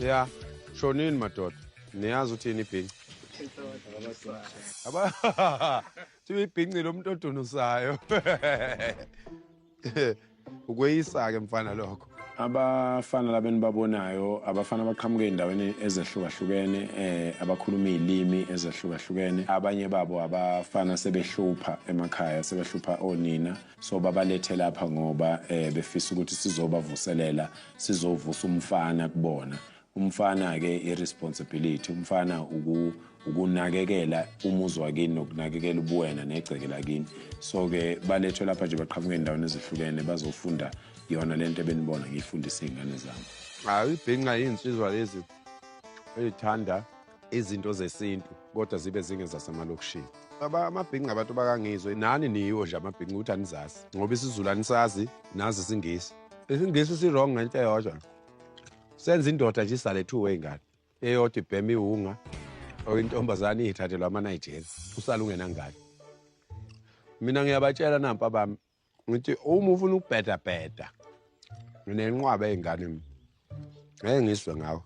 ya shonini madoda niyazi uthini ibhinci thiwa ibhinci lo muntu odunusayo ukweyisa-ke mfana lokho abafana laba enibabonayo abafana abaqhamuke ey'ndaweni ezehlukahlukene um abakhuluma iy'limi ezehlukahlukene abanye babo abafana sebehlupha emakhaya sebehlupha onina so babalethe lapha ngoba eh befisa ukuthi sizobavuselela sizovusa umfana kubona umfana ke irresponsibility umfana uku ukunakekela umuzi wakini nokunakekela ubuwena negceke lakini so ke balethwe lapha nje baqhamuke endaweni ezihlukene bazofunda yona lento ebenibona ngiyifundisa izingane zami hayi ibhinqa yinsizwa lezi ezithanda izinto zesintu kodwa zibe zingezasemalokishini baba amabhinqa abantu bakangizwe nani niyiwo nje amabhinqa ukuthi anizazi ngoba isizulu anisazi nazi isingisi isingisi si-wrong ngento eyodwa senza indoda nje isale two way ngane eyodwa ibhema iwunga or intombazane iyithathelwa ama-nigerian usale ungenangane mina ngiyabatshela nampa bami ngithi uma ufuna ukubheda bheda nginenqwaba ey'ngane mi ngeke ngizwe ngawo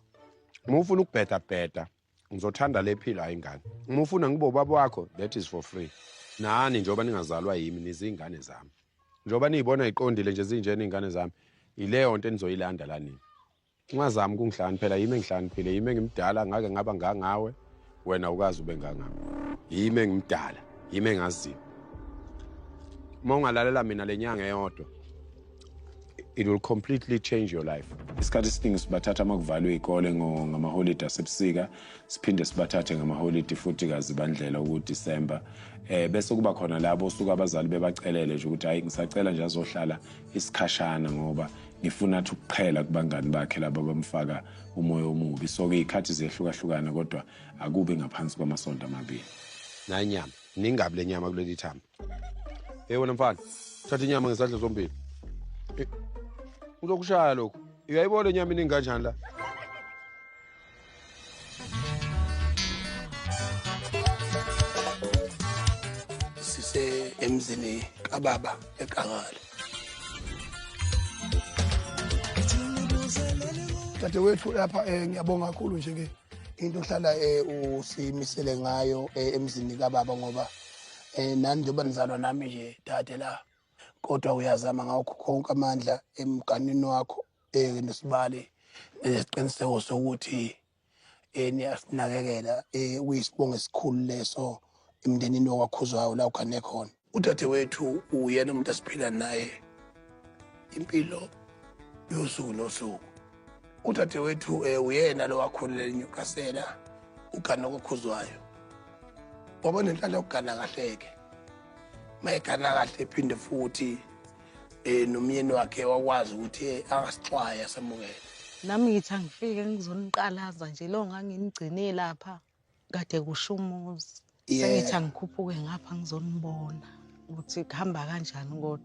uma ufuna ukubheda bheda ngizothanda le philo hayi ingane uma ufuna ngibe ubaba wakho that is for free nani njengoba ningazalwa yimi niziy'ngane zami njengoba niyibona iqondile nje zinjena iy'ngane zami yileyo nto enizoyilanda la nini Ungazami ukungihlakaniphela phela yimi engihlakaniphile yimi engimdala ngake ngaba ngangawe wena ukazi ube ngangami yimi engimdala yimi engaziyo uma ungalalela mina le nyanga eyodwa it will completely change your life isikhathi esiningi sibathatha uma kuvalwe iy'kole ngamaholidi asebusika siphinde sibathathe ngamaholidi futhi kazibandlela ukudisemba um eh, bese kuba khona labo osuke abazali bebacelele nje ukuthi hhayi ngisacela nje azohlala isikhashana ngoba ngifuna athi ukuqhela kubangani bakhe laba bamfaka umoya omubi so ke ikhathi ziyahlukahlukana kodwa akubi ngaphansi kwamasonto amabili nanyama ningabi lenyama kuleli thamba hey wena mfana thatha inyama ngesandla sombili uzokushaya lokhu uyayibona inyama iningi kanjani la sise emzini kababa eqangale dadewethu lapha um ngiyabonga kakhulu nje-ke into ohlala um usimisele ngayo um emzini kababa ngoba um nani njengoba nizalwa nami nje dade la kodwa uyazama ngakho konke amandla emganini wakho um nesibali nesiqiniseko sokuthi um niyasinakekela um kuyisibongo esikhulu leso emndenini wakwakhuzwayo la ugane khona udadewethu uyena umuntu asiphila naye impilo yosuku nosuku udadewethu um eh, uyena lowakhulele enyukasela ugana kokhuzwayo waba nenhlala yokugana kahleke mayegana kahle phinde futhi eh nomyeni wakhe wakwazi ukuthi eh, angasixwaye asamukele nami ngithi angifike ngizoniqalaza nje lo nganginigcine lapha kade kusho umuzi Yeah. sengithi angikhuphuke ngapha ngizonibona ukuthi kuhamba kanjani kodwa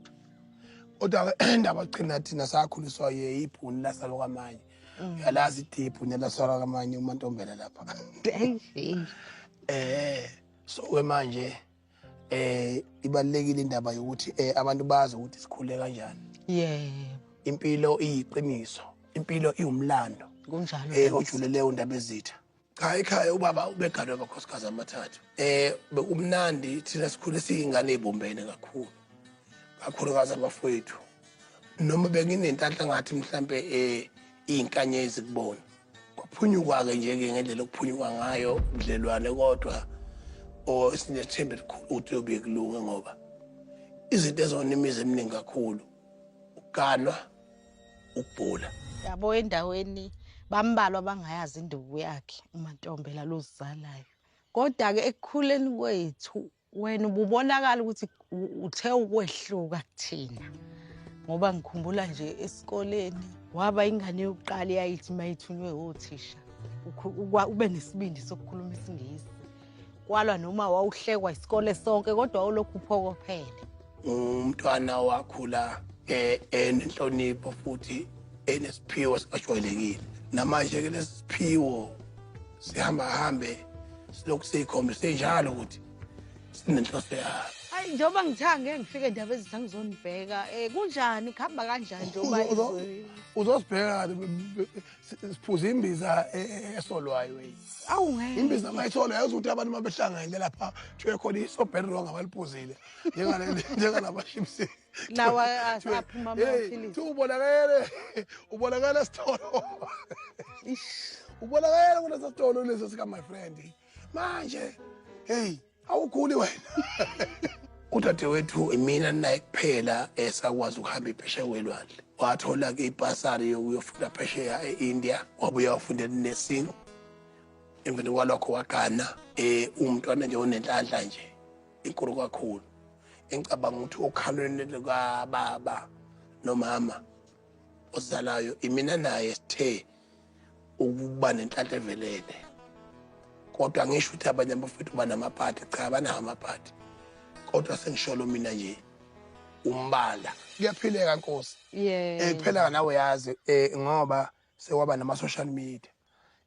kodwa indaba qina thina sakhuliswa ye ibhuni lasalo kamanye Mm. uyalazi ithi ibhuni lasalo kamanye umantombela lapha Eish, eish. eh so ke manje eh ibalekile indaba yokuthi eh abantu bazi ukuthi sikhule kanjani yebo impilo iyiqiniso impilo iwumlando kunjalo eh ojulele undaba ezitha cha ekhaya ubaba ubeganwe abakhosikazi amathathu eh bekumnandi thina sikhule siyingane ezibombene kakhulu kakhulukazi abafowethu noma benginentanhla ngathi mhlambe eh iyinkanyezi kubona kwaphunyuka-ke nje-ke ngendlela okuphunyuka ngayo budlelwane kodwa or sinethemba elikhulu ukuthi yobe kulunge ngoba izinto ezona imizi eminingi kakhulu ukuganwa ukubhula yabo endaweni bambalwa bangayazi induku yakhe umantombela lozizalayo kodwa-ke ekukhuleni kwethu wena ububonakala ukuthi uthe ukwehluka kuthina ngoba ngikhumbula nje esikoleni waba ingane yokuqala eyayithi uma ithunywe othisha ube nesibindi sokukhuluma isingisi kwalwa noma wawuhlekwa isikole sonke kodwa olokhu uphokophele umntwana wakhula eh, enenhlonipho futhi enesiphiwo sikajwayelekile namanje-ke lesi siphiwo sihamba hambe silokhu siyikhombise njalo ukuthi sinenhloso yalo hayi njengoba ngithange ngifike ndaba ezithi angizonibheka um eh, kunjani kuhamba kanjani njengoba uzosibheka siphuza imbiza e, e, e, esolwayo imbiza mayisolo yazi ukuthi abantu uma behlanganyele lapha kuthiwe khona isobheri wrong abaliphuzile njengalabashipsi nawa aphuma amaphilisi thi ubonakele ubonakele sitolo ubonakele kulesa sitolo lesi sika my friend manje hey awukhuli wena udadewethu imina naye kuphela esakwazi eh, ukuhamba iphesheya kwelwandle wathola-ke ipasari yokuyofunda phesheya e-india wabuya wafundela inursing emveni kwalokho wagana um eh, umntwana nje onenhlanhla nje inkulu kakhulu engicabanga ukuthi okhalweni lukababa nomama ozalayo imina naye sithe ukuba nenhlanhla evelele kodwa ngisho ukuthi abanye abafethu banamapati cha banawo amapati kodwa sengisholo mina nje umbala kuyaphileka nkosi eh, yeah. kuphela nawe yazi eh, ngoba sewaba nama-social media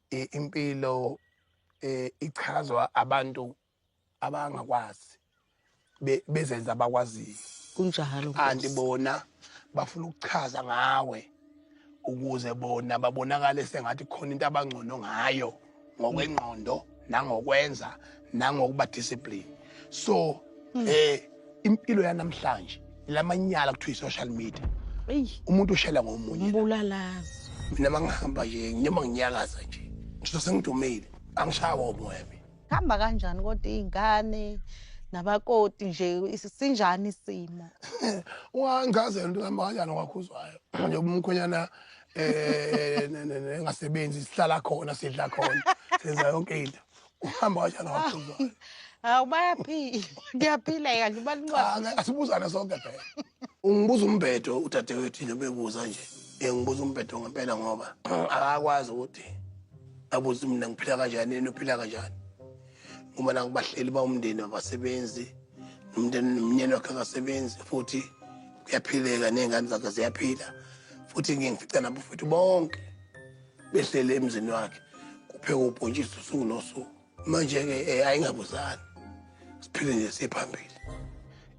eh, impilo eh, ichazwa abantu abangakwazi be- bezenza abakwaziyo kunjalo kanti Nkosi. bona bafuna ukuchaza ngawe ukuze bona babonakale sengathi khona into abangcono ngayo ngokwengqondo nangokwenza nangokuba discipline so eh impilo yanamhlanje lamanyala kuthiwa i-social media eyi umuntu ushela ngomunye umbulalazi mina mangihamba nje noma nginyakaza nje ngizose ngidumile angishawa umoya mina Hamba kanjani kodwa izingane nabakoti nje sinjani isimo? Ungangazela into hamba kanjani kwakhuzwayo nje umkhwenyana eh nengasebenzi sihlala khona sidla khona senza yonke into. Uhamba kanjani kwakhuzwayo? Hawu bayaphila. Ngiyaphila yake bancane. Asibuzane sonke phela. Ungibuza umbhedo udadewethu into bebuza nje. Ngibuza umbhedo ngempela ngoba akakwazi ukuthi abuze mina ngiphila kanjani yena uphila kanjani. Ngoba nangibahleli bawumndeni wabasebenzi nomndeni nomnyeni wakhe akasebenzi futhi kuyaphileka nezingane zakhe ziyaphila futhi ngiye ngifica nabo futhi bonke behlele emzini wakhe kupheka ubhontshisi usuku nosuku manje-ke um eh, ayingabuzani siphile nje siphambili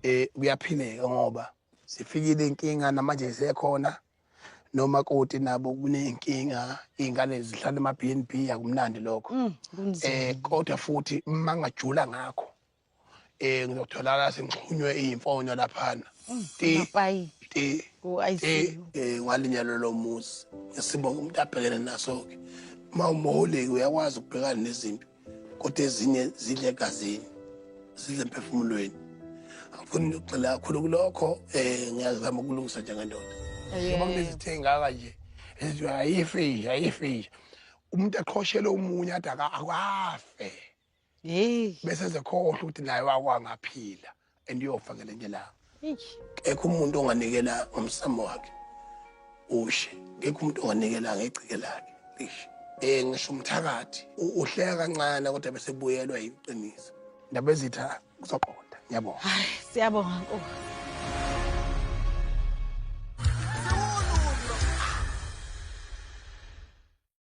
um kuyaphileka ngoba sifikile inkinga namanje isekhona nomakoti nabo kuney'nkinga iy'ngane zihlala ema-b n b akumnandi lokho um kodwa futhi mangajula ngakho eh ngizotholakala sengixhunywe iyimfonyo laphana Mapayi. ti Oh, I ti see. eh ngalinyalo lomuzi ngesimo umuntu abhekene naso ke uma umholeki uyakwazi ukubhekana nezimpi kodwa ezinye zidle egazini zidle emphefumulweni angifuni ukugxila kakhulu kulokho um ngiyazama ukulungisa njengendoda njengoba kunezithe engaka nje ezithi ayifisha ayifisha umuntu aqhoshelwe omunye ade aka- akafe Hey. Bese zekhohlwa ukuthi naye wakwangaphila and uyofa ngelinye ilanga. Kekho umuntu onganikela ngomsamo wakhe. Ushe. Kekho umuntu onganikela ngecike lakhe. Lishe. Eh ngisho umthakathi uhleka kancane kodwa bese buyelwa yiqiniso. Ndabezitha kuzoqonda. Ngiyabonga. Hayi siyabonga Nkosi.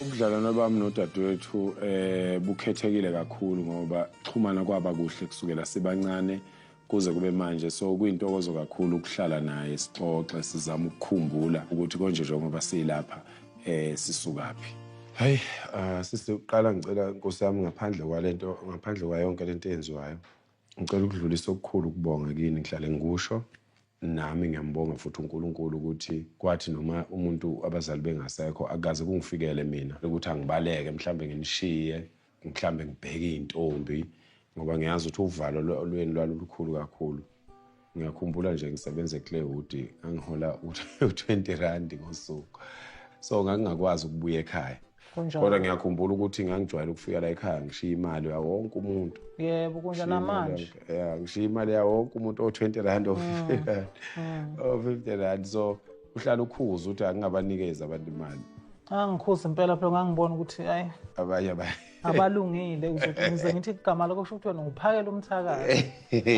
Ubudlalwane bami nodadewethu eh bukhethekile kakhulu ngoba xhumana kwaba kuhle kusukela sibancane kuze kube manje so kuyintokozo kakhulu ukuhlala naye sixoxe sizama ukukhumbula ukuthi konje njengoba silapha eh sisukaphi Hayi uh, sisi uqala ngicela Nkosi yami ngaphandle kwalento ngaphandle kwayonke lento eyenziwayo ngicela ukudlulisa okukhulu kubonga kini ngihlale ngikusho Nami ngiyambonga futhi uNkulunkulu ukuthi kwathi noma umuntu abazali bengasekho akukaze kungifikele mina ukuthi angibaleke mhlambe nginishiye mhlambe ngibheke izintombi ngoba ngiyazi ukuthi uvalo lweni lwalulukhulu kakhulu ngiyakhumbula nje ngisebenza eClaywood ngangihola u-20 rand ngosuku so ngangingakwazi ukubuya ekhaya Kunjalo. kodwa ngiyakhumbula ukuthi ngangijwayele ukufika la ekhaya ngishiya imali yawo wonke umuntu yebo kunjalo namanje ya ngishiya imali yawo wonke umuntu o-20 rand o-50 rand o-50 rand so uhlala ukhuza ukuthi angingabanikezi abantu imali angikhuza impela phela ngangibona ukuthi hayi abanye abanye abalungile uzothi ngize ngithi igama lakho kusho ukuthi wena uphakela umthakazi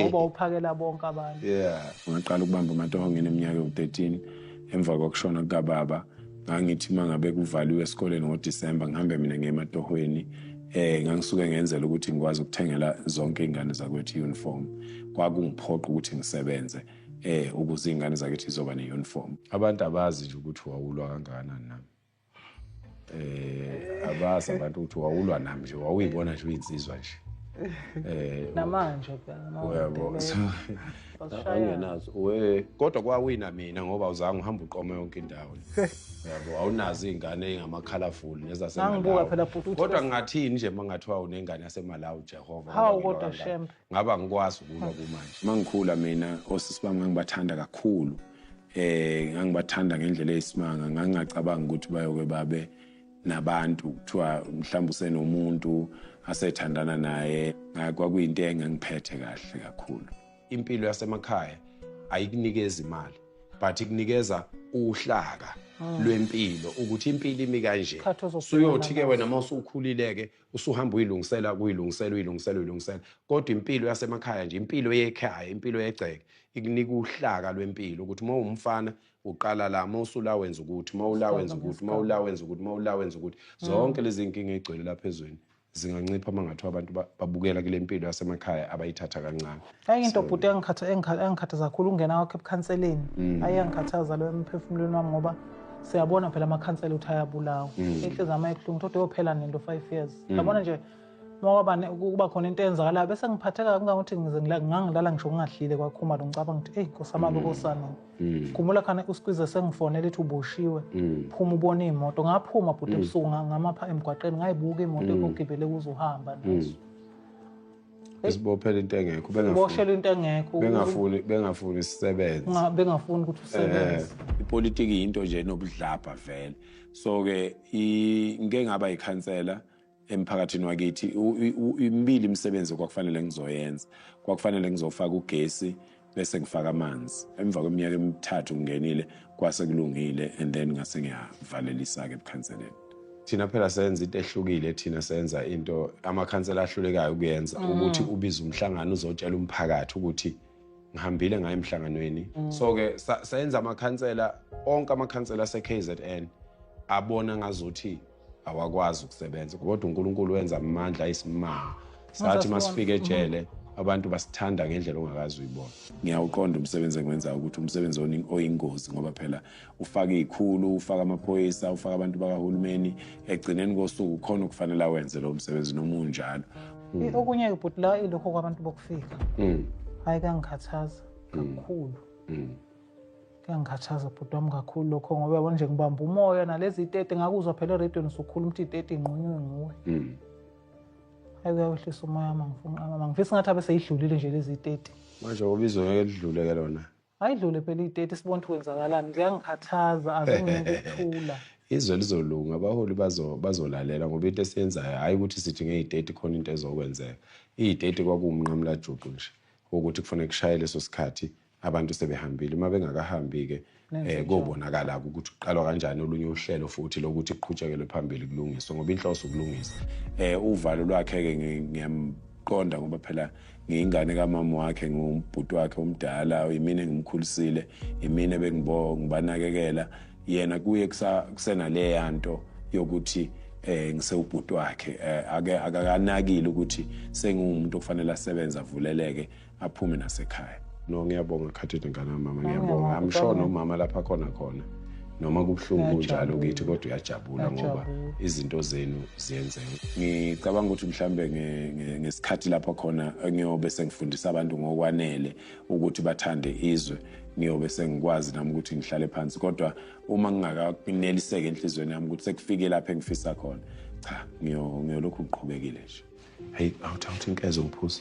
ngoba uphakela bonke abantu yeah ngaqala ukubamba amatohonge eneminyaka ewu-13 emva kokushona kukababa ngangithi uma ngabe kuvaliwe esikoleni ngodisemba ngihambe mina ngiye ematohweni eh ngangisuke ngenzela ukuthi ngikwazi ukuthengela zonke iy'ngane zakwethu i-uniform kwakungiphoqa ukuthi ngisebenze eh ukuze iy'ngane zakithi zizoba ne-uniform abantu abazi nje ukuthi wawulwa kangakanani nami eh abazi abantu ukuthi wawulwa nami nje wawuyibona nje uyinsizwa nje eh namanje phela uyabo angenazo we kodwa kwawina mina ngoba uzange uhambe uqoma yonke indawo yabo awunazi iy'ngane ey'ngama-colorful nezasekodwa ngingathini nje uma ngathiwa unengane yasemalawi jehova hawu kodwa shem ngaba ngikwazi ukulwa kumanje uma ngikhula mina osisi bami ngangibathanda kakhulu um ngangibathanda ngendlela eyisimanga ngangingacabangi ukuthi bayoke babe nabantu kuthiwa mhlawumbe usenomuntu asethandana naye kwakuyinto engangiphethe kahle kakhulu impilo yasemakhaya ayikunikeza imali but ikunikeza uhlaka ah. lwempilo ukuthi impilo imi kanje suyothi-ke wena uma usukhulile-ke usuhamba uyilungisela kuyilungisela uyilungisela uyilungisela kodwa impilo yasemakhaya nje impilo yekhaya impilo yegceke ikunika uhlaka lwempilo ukuthi uma uwumfana Uqala la uma usula wenza ukuthi, uma ula wenza ukuthi, uma ula wenza ukuthi, uma ula wenza ukuthi. Mm. Zonke lezi zinkinga ezigcwele lapha ezweni zingancipha uma ngathiwa abantu babukela kule mpilo yasemakhaya abayithatha kancane ayi into bhuti engikhathaza kakhulu ungena kwakho ebukhanseleni mm. ayi angikhathaza lo emphefumulweni wami ngoba siyabona phela amakhansela ukuthi ayabulawa inhliziyo mm. yami ayibuhlungu kodwa yophela nento five years mm. yabona nje Ngoba kuba khona into eyenzakalayo bese ngiphatheka kangangokuthi ngize ngangilala ngisho ngingadlile kwakhuma lo ngicabanga ukuthi eyi nkosama mm. bekosana mm. khumbula khane usikwize sengifonele ethi uboshiwe mm. phuma ubone iy'moto ngaphuma bhuti ebusuku ngamapha emgwaqeni ngayibuka iy'moto ekugibele kuze uhamba nazo esibophela into engekho bengaboshela into engekho bengafuni bengafuni sisebenze bengafuni ukuthi usebenze eh, ipolitiki yinto nje nobudlabha vele so ke ngeke ngaba yikhansela emphakathini wakithi imibili imisebenzi kwakufanele ngizoyenza kwakufanele ngizofaka ugesi bese ngifaka amanzi emva kweminyaka emithathu ngingenile kwase kulungile and then ngase ngiyavalelisa-ke ebukhanseleni thina phela senza into ehlukile thina senza into amakhansela ahlulekayo ukuyenza mm. ukuthi ubize umhlangano uzotshela umphakathi ukuthi ngihambile ngayo emhlanganweni mm. so-ke senza amakhansela onke amakhansela ase-k z n abona ngazuthi awakwazi ukusebenza kodwa uNkulunkulu wenza amandla ayisimanga sathi masifike ejele abantu basithanda ngendlela ongakazi uyibona ngiyawuqonda umsebenzi engwenzayo ukuthi umsebenzi oyingozi ngoba phela ufaka iy'khulu ufaka amaphoyisa ufaka abantu bakahulumeni ekugcineni kosuku khona okufanele awenze lowo msebenzi noma unjalo mm. okunye kubhuti la ilokho kwabantu bokufika mm. hhayi kangikhathaza mm. kakhulu kuyangikhathaza bhuti wami kakhulu lokho ngoba yabona nje ngibamba umoya nalezi itete ngakuzwa phela erediyoni usukhuluma ukuthi itete inqunywe nguwe mm. ayi kuyawehlisa umoya wami angifunqamama ngifisa ngathi abe seyidlulile nje lezi itete manje ngoba izoyeke lidlule ke lona ayidlule phela itete sibona ukuthi kwenzakalani kuyangikhathaza azingikuthula izwe lizolunga abaholi bazolalela ngoba into esiyenzayo hhayi ukuthi sithi ngeyiteti khona into ezokwenzeka iyiteti kwakuwumnqamulajuqu nje ukuthi kufanele kushaye leso sikhathi abantu sebehambile uma bengakahambi-ke um kobonakala-ke ukuthi kuqalwa kanjani olunye uhlelo futhi lokuthi kuqhutshekelwe phambili kulungiswe ngoba inhloso ukulungisa um uvalo lwakhe-ke ngiyamqonda ngoba phela ngiyingane kamama wakhe ngiwumbhuti wakhe omdala yimina engimkhulisile yimina bengibanakekela yena kuye kusenaleya nto yokuthi eh ngisewubhuti wakhe eh, ake akakanakile ukuthi sengiwumuntu okufanele asebenze avuleleke aphume nasekhaya no ngiyabonga khathini ngane mama ngiyabonga i'm sure nomama lapha khona khona noma kubuhlungu kunjalo kithi kodwa uyajabula ngoba izinto zenu ziyenzeka ngicabanga ukuthi mhlambe ngesikhathi lapho khona ngiyobe sengifundisa abantu ngokwanele ukuthi bathande izwe ngiyobe sengikwazi nami ukuthi ngihlale phansi kodwa uma ngingakaneliseke enhliziyweni yami ukuthi sekufike lapho engifisa khona cha ngiyolokhu ngiqhubekile nje hayi awuthi awuthi inkezo ngiphuza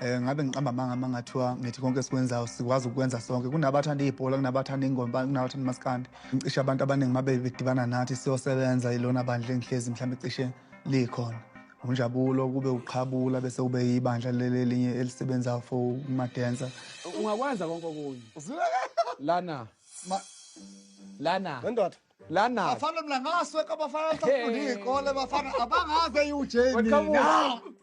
um ngabe ngiqamba amanga uma ngathiwa ngithi konke esikwenzayo sikwazi ukukwenza sonke kunabathanda ibhola kunabathanda ingoma kunabathanda umaskandi ngicishe abantu abaningi uma bedibana nathi siyosebenza ilona bandla engihlezi mhlawumbe cishe likhona unjabulo kube uqhabula bese kube yibandla lelinye elisebenzayo for umadensa ungakwenza konke okunye lana lana ndoda lana bafana mina ngasweka bafana safunda iy'kole bafana abangaze iwujeni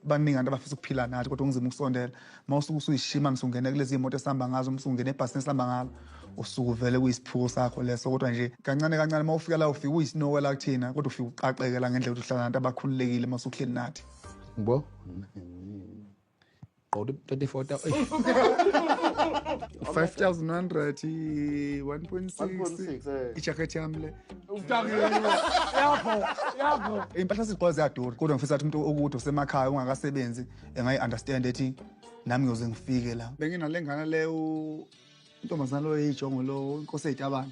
baningi abantu abafisa ukuphila nathi kodwa ungizima ukusondela uma usuke usuyishima msungene kulezi iy'moto esihamba ngazo msungene ebhasini esihamba ngalo usuke uvele kuyisiphuko sakho leso kodwa nje kancane kancane uma ufika la ufike uyisinowe la kuthina kodwa ufike uqaqeke la ngendlela ukuthi uhlala nabantu abakhululekile uma usuhleli nathi ngibo Qodi 34 5100 1.6 ijacket yami le impahla sizigqoka ziyadura kodwa ngifisa ukuthi umuntu okude usemakhaya ungakasebenzi engayi-understand ethi nami ngiyoze ngifike la benginalengane le intombazana lo eyijongo lo inkosi eyitabane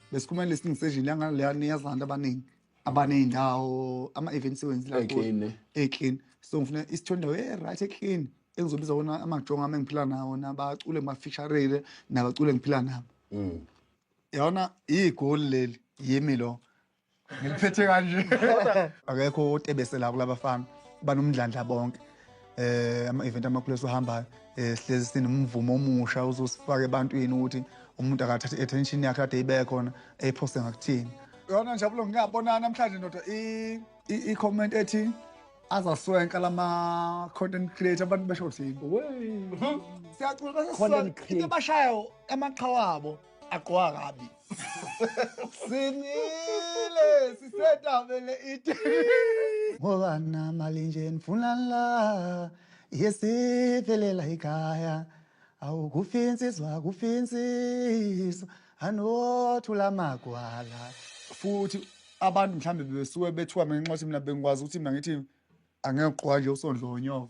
besikhuluma listening session yanga leya niyazi abantu abaningi abaney'ndawo ama-event sewenzi laclean eh. so ngifuna isithola indawo e-right eclean engizobiza wona amajongo ami engiphila nawo nabacule ngibafisharele nabacule ngiphila nabo mm. yabona iyigoli leli yimi lo ngiliphethe kanje akekho otebese la kulaba fana banomndlandla bonke eh ama-event amakhulu esiwahambayo eh sihlezi sinomvumo omusha uzosifaka ebantwini ukuthi umuntu akathathe i-attention yakhe kade ibe khona eyiphoste ngakuthini yona njabulo ngiyabona namhlanje ndoda i-comment ethi azaswenka lama-content creator abantu besho thini mhm. siyacula into abashayo amaqhawa abo agqoka kabi sinile sisedabele iti ngoba namali nje nifuna la yesivelela ikhaya awukufi insizwa kufi insizwa anothula magwala futhi abantu mhlawumbe bebesuke bethiwa mina nginxothi mina bengikwazi ukuthi mina ngithi angeke uqoka nje usondlo wonyoko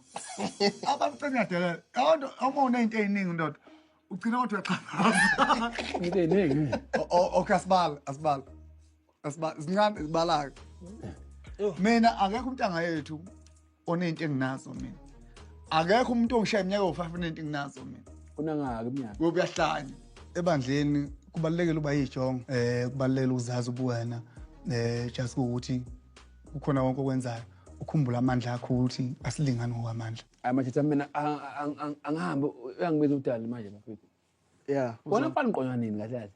abantu sengiyadelela abantu uma uneyinto eyiningi ndoda ugcina kodwa uyaxhalaza into eyiningi okay asibala asibala asibala zincane zibalaka mina akekho umntanga yethu oneyinto enginazo mina akekho umuntu ongishaye iminyaka wo-five oneyinto enginazo mina unangaki iminyaka uyahlanya ebandleni kubalulekile uba yijongo um eh, kubalulekile ukuzazi ubuwena um eh, just ukuthi kukhona konke okwenzayo ukhumbula amandla akho ukuthi asilingani ngokwamandla amajita mina angihambe uyangibiza udali manje bafethu ya wona mfana uqonywa nini kahle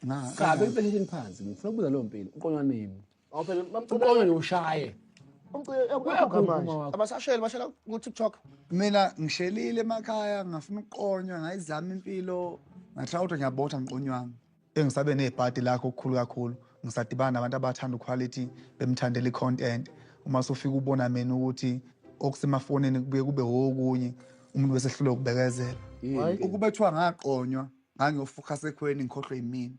kahle ngabe impesheni phansi ngifuna ukubuza leyo mpilo uqonywa nini uqonywa nje ushaye abasasheli bashela ku-tiktok mina ngishelile emakhaya ngafuna ukuqonywa ngayizama impilo ngathi awuto ngiyabotha ngiqonywanga Bengisabe nebhadi lakhe okukhulu kakhulu, ngisadibana nabantu abathanda uQuality bemthandela i-content. Uma sufika ubona mina ukuthi okusemafonini kubuye kube okunye, umuntu bese ehlulwa ukubekezela. Hhayi, ukube kuthiwa ngaqonywa ngangiyofuqa sekhweni ngikhohlwe yimina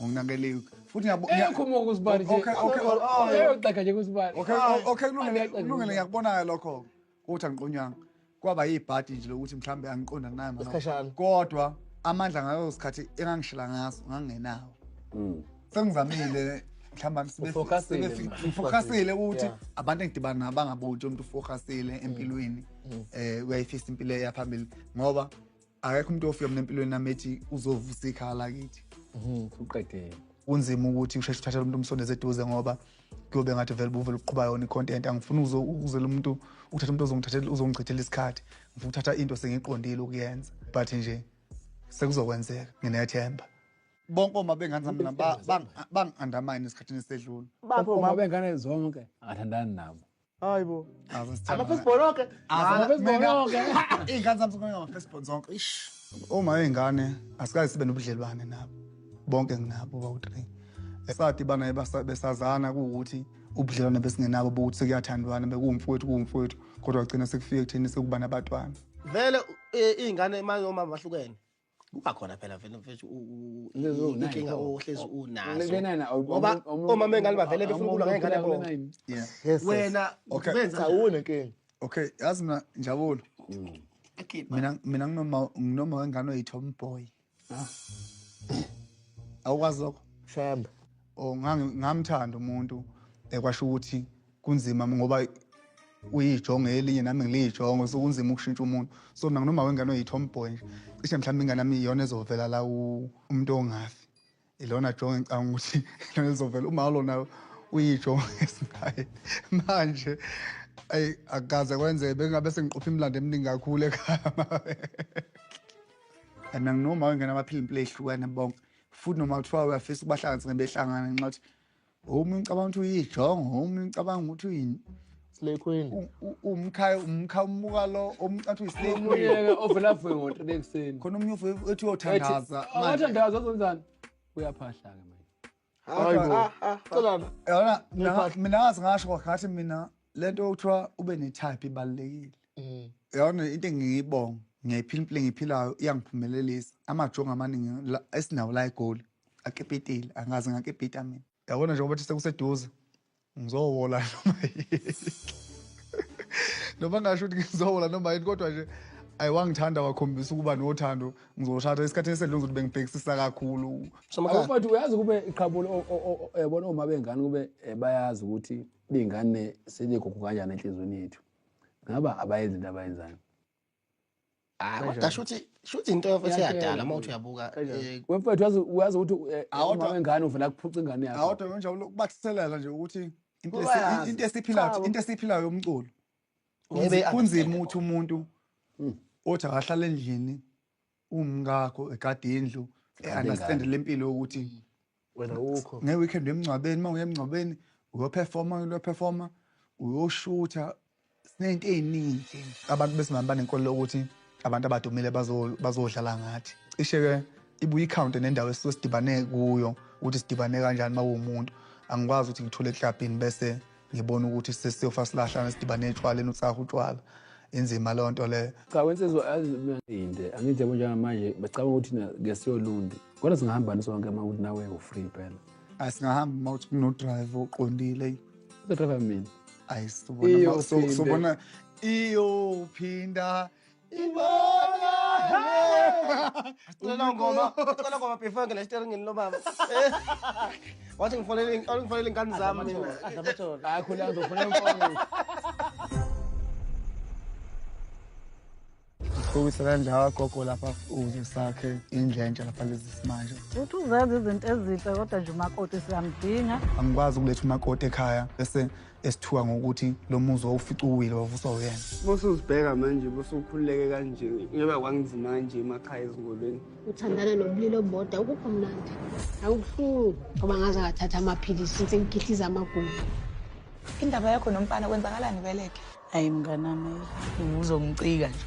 ngokunakeliwe futhi ngiyabo- ngiya- Eyokho uma kusibani nje. Okay, okay, oh, oh, Eyogxeka nje kusibani. Okay, o- okay, kulungile, Angiyagxeki kulungile, ngiyakubona-ke lokho. Uthi angiqonywanga kwaba yibhadi nje lokuthi mhlawumbe angiqonda naye mama. Isikhashana. Kodwa amandla ngayo sikhathi engangishila ngaso ngangenawo. Mm. Sengizamile mhlawumbe sibe Ufocusile sibe- manje. ngifocusile ukuthi Yeah. abantu engidibana nabo bangaboni nje umuntu ufocusile empilweni eh uyayifisa impilo eya phambili ngoba akekho umuntu ofika mina empilweni nami ethi uzovusa ikhala kithi mhm, uqedile kunzima ukuthi usheshe uthathele umuntu umsondeze eduze ngoba kuyobe ngathi vele buvele uqhuba yona i-content angifuni uzela umuntu ukuthatha umuntu ozongithathela uzongichithela isikhathi ngifuna ukuthatha into sengiqondile ukuyenza but nje sekuzokwenzeka nginethemba bonke oma bengane zami bangi-undermine esikhathini esedlula bonke oma bengane zonke angathandani nabo hayi bo amafesibon oke amafesibonke iy'ngane zami zonke ngamafesibon zonke ish uma iy'ngane asikaze sibe nobudlelwane nabo bonke nginabo bawu-three esadi bana besazana kuwukuthi ubudlelwane besingenabo bokuthi sekuyathandwana bekuwumfowethu kuwumfowethu kodwa kugcina sekufike ekutheni sekuba nabatwana vele e, iy'ngane manje omama bahlukene kuba khona phela vele mfethu inkinga ohlezi unazo ngoba omama engane bavele befuna ukulwa ngengane yabo wena ubenza awune nkinga okay yazi mina njabulo mm. mina mina nginoma nginoma wengane oyithoba umboy ah. awukwazi lokho shembe oh ngamthanda umuntu ekwasho ukuthi kunzima ngoba uyijongo elinye nami ngiliyijongo so kunzima ukushintsha umuntu so mina nginoma wengane oyi-tomboy nje cishe mhlawumbe ingane yami iyona ezovela la umuntu ongafi ilona jongo engicanga ukuthi ilona ezovela uma lona uyijongo esinaye manje ayi akukaze kwenzeke bengabe sengiqopha imilando eminingi kakhulu ekhaya and anginoma wengane abaphila impilo ehlukane bonke futhi noma kuthiwa uyafisa ukubahlanganisa ngebehlangane nxa ukuthi Uma ngicabanga ukuthi uyijongo, uma ngicabanga ukuthi uyini slay queen umkhaya umkhaya umuka lo omcathi uyislay queen uyeke ovela vuke ngo 3 ekseni khona umunye uvuke ethi uyothandaza oh, manje wathandaza uzonzani uyaphahla ke manje hayi bo ah, ah, ah. celana yona mina ngazi ngasho ngathi mina lento okuthiwa ube ne type ibalekile mm. yona into engiyibonga ngiyayiphila impilo engiphilayo iyangiphumelelisa amajongo amaningi esinawo la egoli akipitile angazi ngakipita mina yabona njengoba thi sekuseduze ngizowola noma noma ngasho ukuthi ngizowola noma yini kodwa nje ayi wangithanda wakhombisa ukuba nothando ngizoshada isikhathi esedlule ngizothi bengibhekisisa kakhulu but uyazi kube iqhabulo yabona uma bengane kube eh, bayazi ukuthi bey'ngane seligugu kanjani enhliziyweni yethu ngaba abayenzi into abayenzayo hayi kodwa shuthi shuthi into yofethu eyadala uma uthi uyabuka eh, wemfethu wazi wazi ukuthi eh, awodwa wengane uvela kuphuca ingane yakhe awodwa manje ukubathelela nje ukuthi into into esiphilayo into esiphilayo yomculo kunzima ukuthi umuntu hmm. othi akahlala endlini umkakho egade indlu e-understand le mpilo yokuthi mm. wena ukho nge-weekend emngcwabeni uma uye emngcwabeni uyophefoma uyophefoma uyoshutha sinento ey'ningi abantu besimame banenkolelo ukuthi abantu abadumile bazodlala ngathi cishe-ke ibuye ikhawunte nendawo esuke sidibane kuyo ukuthi sidibane kanjani uma uwumuntu angikwazi ukuthi ngithule eklabhini bese ngibona ukuthi sesiyofa silahlana sidibane etshwaleni utsaha utshwala inzima leyo nto leyo cha wensizwa aziminde angithi yabo njengamanje becabanga ukuthi ngesiyolundi kodwa singahamba nisonke uma ukuthi nawe ufree phela ayi singahamba uma ukuthi kunodrive oqondile uzodrive mina ayi sobona iyophinda Ingoma. Sicela ngoma, sicela ngoma before ngena steringini lo baba. Wathi ngifonele ngifonele ingane zami mina. Hayi khona ngizofuna imfono. Ukuyisela ndawo gogo lapha uze sakhe indlentsha lapha lezi simanje. Uthi uzenza izinto ezinhle kodwa nje umakoti siyamdinga. Angikwazi ukuletha umakoti ekhaya bese esithuka ngokuthi lo muzi wawufica uwile wavuswa uyena bose uzibheka manje bose ukhululeke kanje ngeba kwanginzima kanje emakhaya ezingolweni uthandana nobulili oboda ukuphi mnandi akubuhlungu ngoba ngaze ngathatha amaphilisi since ngigithiza amagugu indaba yakho nomfana kwenzakalani beleke ayi mnganami uzongicika nje